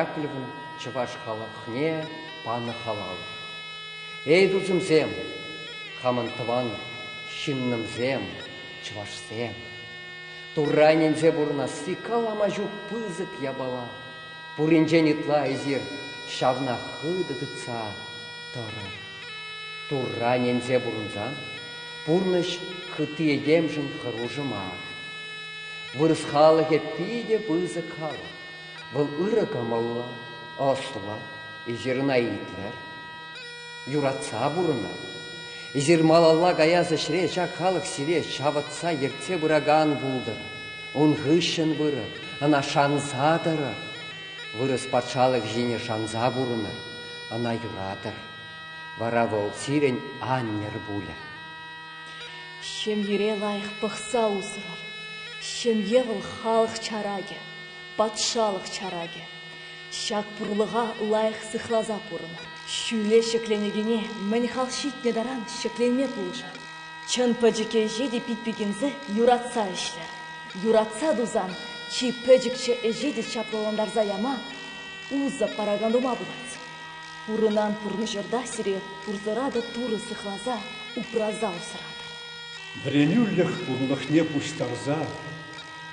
Яковлевӑн чӑваш халӑхне панӑ халал. Эй, тусӑмсем, хамӑн тӑван ҫыннӑмсем, чӑвашсем, Турра ӗненсе пурӑнасси калама ҫук пысӑк япала. Пуринчен ытла эсир ҫавна хытӑ тытса тӑрӑр. Турра ӗненсе пурӑнсан пурнӑҫ хытти этемшӗн хӑрушӑ мар. Вырӑс халӑхӗ питӗ пысӑк халӑх. Вӑл ырӑ кӑмӑллӑ, ӑслӑ, эсир ӑна итлӗр. Юратса пурӑнӑр. Эсир малалла каяс ӗҫре ҫак халӑх сире ҫавӑтса ертсе пыракан пултӑр. Ун хыҫҫӑн пырӑр, ӑна шанса тӑрӑр. Вырӑс патшалӑх ҫине шанса пурӑнӑр. ӑна юратӑр, вара вӑл сирӗн аннӗр пулӗ. Ҫемьере лайӑх пӑхса усрӑр. Ҫемье вӑл халӑх чаракӗ, патшалӑх чаракӗ. Ҫак пурлӑха лайӑх сыхласа пурӑнӑр. Ҫӳле ҫӗкленекене мӗн хал ҫитнӗ таран ҫӗкленме пулӑшӑр. Чӑн пӗчӗк ӗҫе те пит пикенсе юратса ӗҫлӗр. Юратса тусан чи пӗчӗкчӗ ӗҫе те чаплӑлантарса яма, Усӑ паракан ума пулать. Пурӑнан пурнӑҫӑрта сире пурсӑратӑр Турӑ сыхласа, упраса усратӑр. Вӗренӳлӗх пурлӑхне пуҫтарса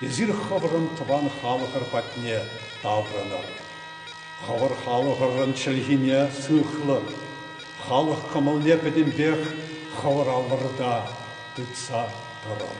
эсир хӑвӑрӑн тӑван халӑхӑр патне таврӑнӑр. Хӑвӑр халӑхӑрӑн чӗлхине сыхлӑр, халӑх кӑмӑлне пӗтӗмпех хӑвӑр аллӑрта тытса тӑрӑр.